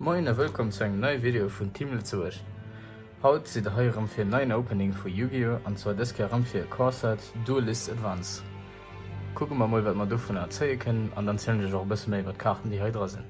Moien a wëllkomm zu engem neie Video vun Team Lëtzebuerg. Haut sidd der hei erëm fir en neien Opening vu Yu-Gi-Oh! An zwar dës Kéier erëm fir e Core Set Duelist Advance. Kucke mer mol wat mer dovunner zéie kënnen an dann zielen ech iech och e bësse méi iwwer d'Kaarten déi hei dra sinn.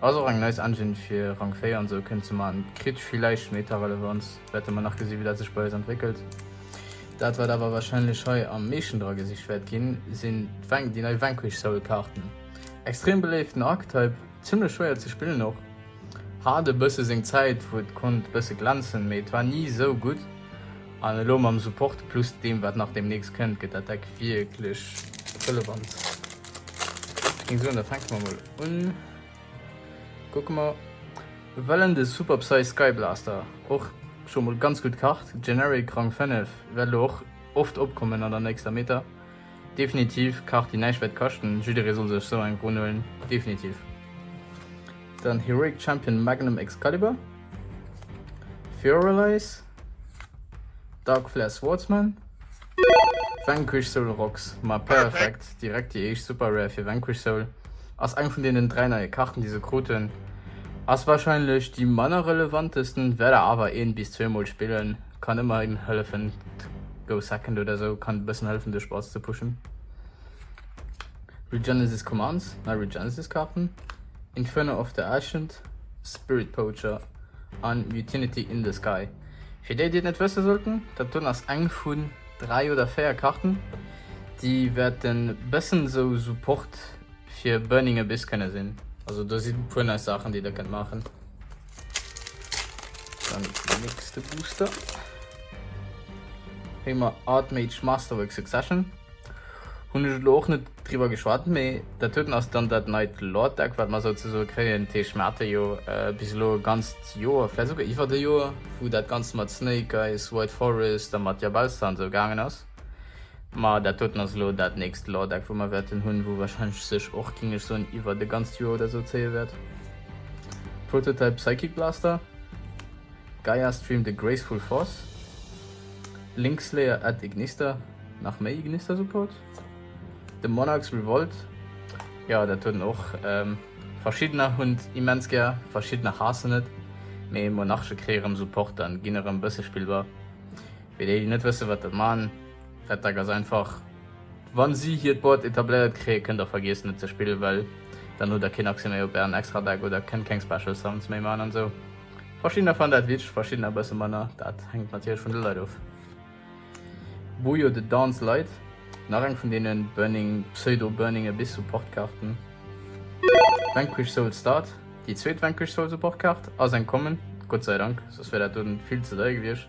Ass och eng nice Engine fir Rang 4 an sou kënnt ze man. Kritt villeicht Meta Relevanz, wäerte mer nach gesinn wéi dat sech bei eis entwéckelt. Dat wat awer wahrscheinlech hei am meeschten dra gesicht wäert ginn sinn déi nei Vanquish Soul Kaarten. Extrem beléiften Archetype, zimmlech schwéier ze spillen och. Hat e bësse seng Zäit wou et konnt bësse glänzen, mee et war ni sou gutt an elo mam Support plus deem wat nach deemnächst kënnt gëtt dat Deck wierklech relevant. Ech soen, da fänke mer mol un. Kucke mer. Wellen de Super Psy Sky Blaster och scho mol ganz gutt Kart. Generic Rang 5 wäert elo och oft opkommen an der nächster Meta. Definitiv Kart déi näischt wäert kaschten. Jidderee soll sech esou eng run huelen, definitiv. Dann Heroic Champion Magnum Excalibur. Furalize. Dark Flare Swordsman, Vanquish Soul Rocks, ma perfekt, direkt déi éischt super rare fir Vanquish Soul, ass eng vun deenen 3 neie Karten déi se krut hunn, ass wahrscheinlech déi manner relevantesten, wäert der awer een bis zwee mol spillen, kann ëmmerhin hëllefen d'Go Second oder sou kann bëssen hëllefen de Spass ze pushen. Regenesis Commands, nei Regenesis Karten, Inferno of the Ancient, Spirit Poacher an Mutinity in the Sky. Fir déi, déi et net wësse sollten, dat do ass eng vun 3 oder 4 Karten, déi wäerten e bëssen esou Support fir Burning Abyss kënne sinn. Also do si e puer nice Saachen, déi der kënnt maachen. Dann den nächste Booster. Hei mer Artmage Masterwork Succession. Hun ech lo och net drüber geschwat, méi dat huet ass dann dat neit Lord Deck, wat mer souzesoe kréien. Teech mer hate jo äh, bis lo e ganzt Joer, vläit esouguer iwwert e Joer, wou dat Ganzt mat Snake Eyes, White Forest a mat Jabauster an esou gaangen ass. Ma dat doten ass elo dat nächst Lordeck wou mer wäerten hunn, wou wahrscheinlech sech och, géing ech soen, iwwert e ganzt Joer oder esou zéie wäert. Prototype Psychic Blaster, Gaia Stream The Graceful Force, Link Slayer Add Ignister, nach méi Ignister Support, The Monarch's Revolt, jo dat hunn och verschiddener hunn et immens gär, verschiddener haassen et, mee Monarche kréie rëm Support an ginn erëm bësse spillbar. Fir déi, déi net wëssen, wat der man, Red Duck ass einfach, Wa si hiert Board etabléiert kréien, kënnt der vergiessen, et ze spillen, well dann hutt der keen Accès méi op ären extra Deck oder kënnt keng Special Sounds méi man an esou. Verschiddener fannen dat witzeg, verschiddener e bësse manner. Dat hänkt natierlech vun de Leit of. Bojo the Dance Light, nach eng vun deene Burning, pseudo Burning Abyss Support Kaarten. Vanquished Soul Start, déi zweet Vanquished Soul Support Kaart, ass eng Common, Gott sei Dank, soss wär dat do vill ze deier gewiescht.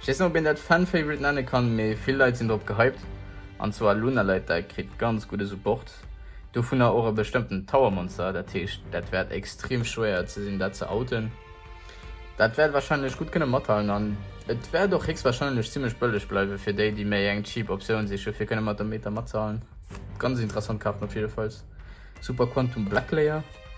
Ech weess net ob een dat Fan Favorite nenne kann, mee vill Leit sinn drop gehypt. An zwar Lunaleiter kritt ganz gudde Support, dovunner och e bestëmmten Tower Monster, dat heescht dat wäert extrem schwéier ze sinn dat ze outen. Dat wäert warscheinlech gutt kënne mathalen an et wäert och héchstwarscheinlech zimmlech bëlleg bleiwe fir déi, déi méi eng cheap Optioun siche fir kënne mat der Meta matzehalen. Ganz interessant Kaart op jiddefalls. Super Quantum Black Layer.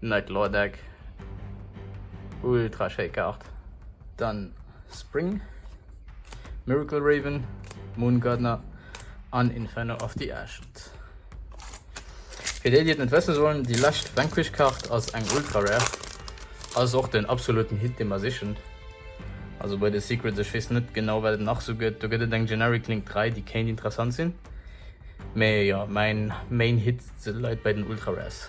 Nightl or Deck, ultra schéi Kaart. Dann Spring, Miracle Raven, Moon Gardener an Inferno of the Ancient. Fir déi, déi et net wësse sollen, déi lescht Vanquish Kaart ass eng ultra rare, ass och den absoluten Hit dee mer sichen. Also bei de Secrets, ech weess net genau wat et nach esou gëtt, do gëtt et eng Generic Link 3 déi kéint interessant sinn, mee jo mäin Main Hit leit bei den ultra rares.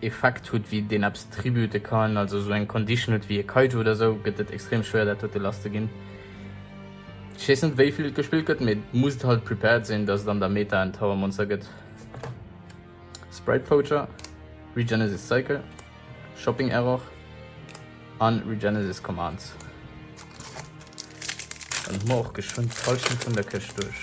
Effekt hutt wéi deen eppes tribute kann, also esou eng Condition hutt wéi e Kaiju oder esou, gëtt et extrem schwéier dat dote lass ze ginn. Ech weess net wéivill et gespillt gëtt, mee musst halt prepared sinn dass et an der Meta en Tower Monster gëtt. Sprite Poacher, Regenesis Cycle, Shopping Error an Regenesis Commands. Dann hu mer och geschwënn d'Hallschent vun der Këscht duerch.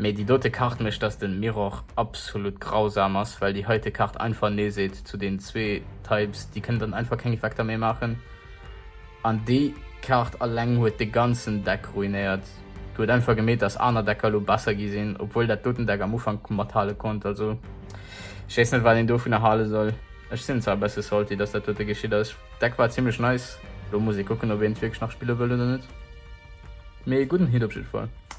Mee déi dote Kart mécht dass den Mirror absolut grausam ass, well déi heite Kart einfach nee seet zu den zwee Types. Déi kënnen dann einfach keng Effekter méi maachen. An déi Kart alleng huet de ganzen Deck ruinéiert. Du huet einfach gemeet dass aner Decker lo besser gi sinn, obwuel dat doten Deck am Ufank mathale konnt. Also ech weess net wat een dovunner hale soll. Ech sinn zwar e besse salty dass dat dote geschitt ass. D'Deck war zimlech nice, lo muss ee kucken ob een et wierklech nach spille wëll oder net. Mee gudden Hit op jiddefall.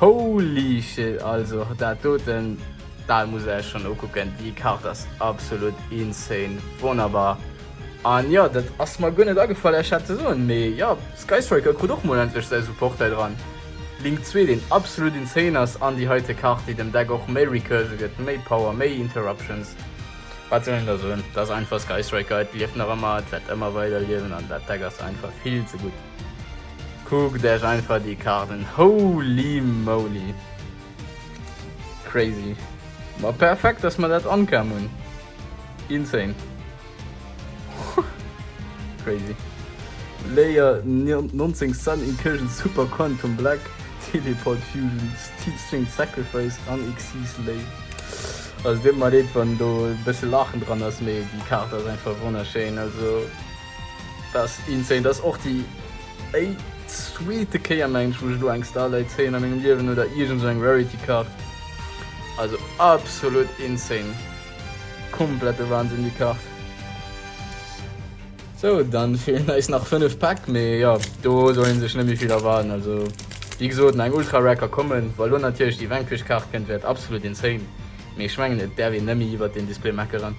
Holy shit, also dat doten, dat muss ech schon ukucken, déi Kart ass absolut insane, wonnerbar. An jo, dat ass mer guer net agefall lech dat ze soen, mee jo, Skystriker krut och mol endlech säi Support hei dran. Link 2, deen absolut insane ass, an déi heite Kart, déi dem Deck och méi Recursion gëtt, méi Power, méi Interruptions. Wat soll een da soen, dat ass einfach Skystriker, et lieft nach ëmmer, et wäert ëmmer weider liewen, an dat Deck ass einfach vill ze gutt. Kuckt Äech einfach déi Kaart un, holy moly! Crazy! Ma perfekt dass mer dat ankam hunn! Insane! Crazy! Layer 19 Sun Incursion Super Quantum Black Teleport Fusion Steel String Sacrifice an Xyz Lei. Also deet mer leed wann do e bësse Laachen dran ass, mee déi Kaart ass einfach wonnerschéin! Also. Dass insane, dass och déi éi zweete Kéier mengen ech wou ech elo eng Starlight zéien a mengem Liewen oder iergend esou eng Rarity Card. Also absolut insane. Komplette Wahnsinn déi Kart. Sou dann feelen eis nach 5 Pack mee jo do soll een sech net méi vill erwaarden. Also wéi gesoten eng Ultra Rare ka kommen. Wa elo natierlech déi Vanquish Kart kënnt wäert absolut insane mee ech mengen et däerf een net méi iwwert den Display meckeren.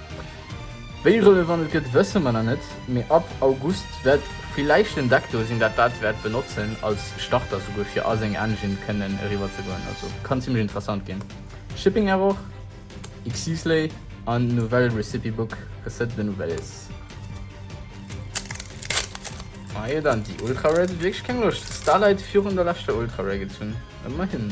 Wéi relevant et gëtt wësse mer nach net, mee ab August wäert villäicht den Deck do sinn dat dat wäert benotzen als Starter souguer fir a seng Engine kënnen eriwwer ze goen. Also kann zimlech interessant ginn. Shipping Error, Xfce an Nouvelle Recipe Book Recette de Nouvelles. Majo dann, déi Ultra Rare huet wierklech keng Loscht. Starlight virun der leschter Ultra Rare gezunn, ëmmerhin.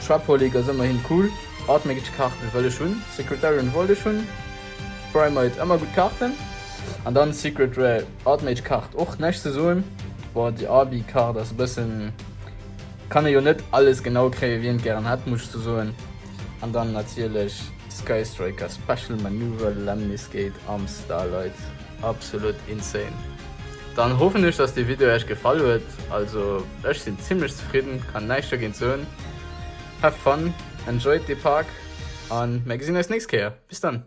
Chapeau les gars ëmmerhin cool. Admin gëtt Kaarten wëll ech hunn, Secretarian wollt ech hunn, Primate ëmmer gutt Kaarten an dann Secret Rare Admage Kaart och näischt ze soen. Bon déi Arby Kaart ass e bëssen, kann ee jo net alles genau kréien wien et gären hätt muss ech sou soen an dann natierlech Sky Striker Special Manoeuvre Lemniscate am Starlight. Absolut insane. Dann hoffen ech dass dee Video Äech gefall huet, also ech sinn zimlech zefridden, kann näischt dogéint soen. Have fun, enjoyed dee Park an mär gesinn eis nächst Kéier. Bis dann.